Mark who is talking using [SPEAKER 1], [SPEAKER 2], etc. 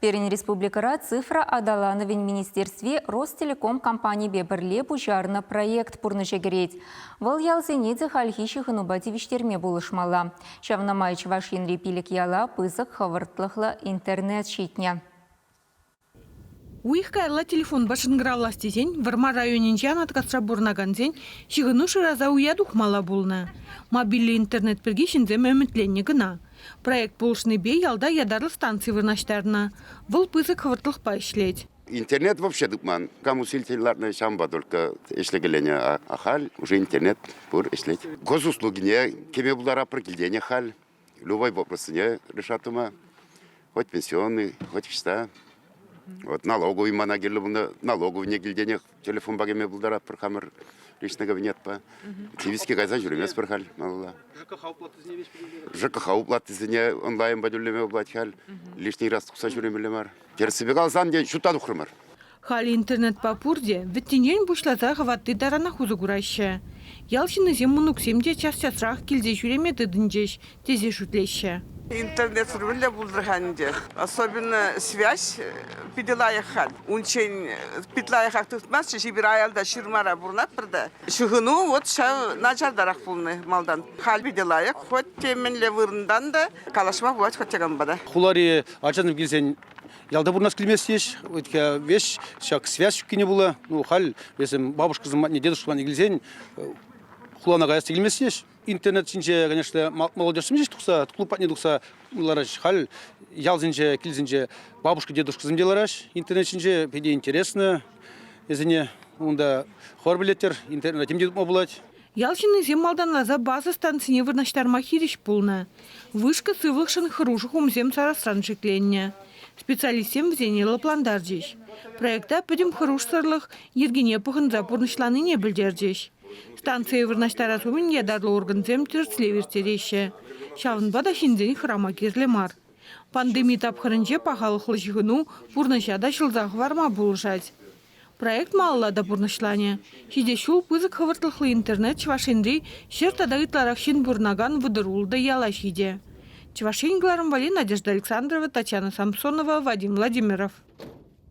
[SPEAKER 1] Пирӗн республикӑра цифра аталанӑвӗн министерстви Ростелеком компанипе пӗрле пуҫарнӑ проект пурнӑҫа кӗрет. Вӑл ялсене те хальхи ҫыхӑнупа тивӗҫтерме пулӑшмалла. Ҫавна май Чӑваш Енри пилӗк яла пысӑк хӑвӑртлӑхлӑ интернет ҫитнӗ. Уйӑх
[SPEAKER 2] каялла телефонпа шӑнкӑравлас тесен Вӑрмар районӗнчи Анаткасра пурӑнакансен ҫыхӑну шыраса уя тухмалла пулнӑ. Мобильлӗ интернет пирки ҫынсем ӗмӗтленнӗ кӑна. Проект пулӑшнипе ялта ятарлӑ станци вырнаҫтарнӑ. Вӑл пысӑк хӑвӑртлӑхпа ӗҫлет. Интернет вообще
[SPEAKER 3] тупман. Кам усилитель лартнӑ, ҫавӑнпа только ӗҫлекеленӗ. А, а халь уже интернет пур ӗҫлет. Госуслугине кӗме пултаратпӑр килтен халь. Любой вопросне решат тума. Хоть пенсионный, хоть ҫта. Вот налоговый мана кирлӗ булнӑ, налоговыйне килтенех Телефонпа кӗме пултаратпӑр хамӑр личный кабинетпа. Кивиске кайсан ҫӳреместпӗр халь малалла. ЖКХ уплатисене веҫ ЖКХ уплатисене онлайнпа тӳлеме пулать халь. Лишний раз тухса ҫӳремелле мар. Тӗрӗссипе калсан, те ҫутта тухрӑмӑр. Халь интернетпа
[SPEAKER 2] пурте вӗттинчен пуҫласа хӑватти таранах усӑ кураҫҫӗ. Ял ҫыннисем мӑнуксем те час-часрах килсе ҫӳреме тытӑнчӗҫ, тесе шутлеҫҫӗ. Интернетсӑр
[SPEAKER 4] мӗнле пултӑр-ха ӗнтӗ? Особенно связь питӗ лайӑх халь. Унччен пит лайӑхах туртмастчӗ, эпир аялта ҫырмара пурӑнатпӑр та. Ҫыхӑну вӑт ҫав начартарах пулнӑ малтан. Халь питӗ лайӑх, хӑть те мӗнле вырӑнтан та калаҫма пулать хоть яканпа та. Хулари ачасем
[SPEAKER 5] килсен ялта пурӑнас килмест теҫ. Веҫ ҫак связь ҫуккине пулӗ. Ну, халь весем бабушкӑсем патне, дедушкӑсем патне килсен хулана каяс та килмест теҫ. интернет ҫинче, конечно, молодежсем ҫеҫ тухса, клуб патне тухса лараҫҫӗ. Халь ялсенче, килсенче бабушка, дедушкасем те лараҫҫӗ интернет ҫинче. Питӗ интересно вӗсене. Унта хор билеттер интернета тем те тупма пулать. Ял ҫыннисем
[SPEAKER 2] малтанласа база станцине вырнаҫтарма хирӗҫ пулнӑ. Вышка сывлӑхшӑн хӑрушӑ хумсем сарасран шикленнӗ. Специалистсем вӗсене лӑплантарчӗҫ. Проекта пӗтӗм хӑрушсӑрлӑх йӗркине пӑхӑнса пурнӑҫланине пӗлтерчӗҫ. Станцие вырнаҫтарас умӗн ятарлӑ органсем тӗрӗслев ирттереҫҫӗ. Ҫавӑнпа та ҫынсен хӑрама кирлӗ мар. Пандеми тапхӑрӗнче пахалӑхлӑ ҫыхӑну пурнӑҫа та ҫӑлса хӑварма пулӑшать. Проект малалла та пурнӑҫланӗ. Ҫитӗ ҫул пысӑк хӑвӑртлӑхлӑ интернет Чӑваш Енри ҫӗр тата ытларах ҫын пурӑнакан вӑтӑр-ултӑ яла ҫитӗ. Чӑваш Ен кӑларӑмвӗ Надежда Александрова, Татьяна Самсонова, Вадим Владимиров.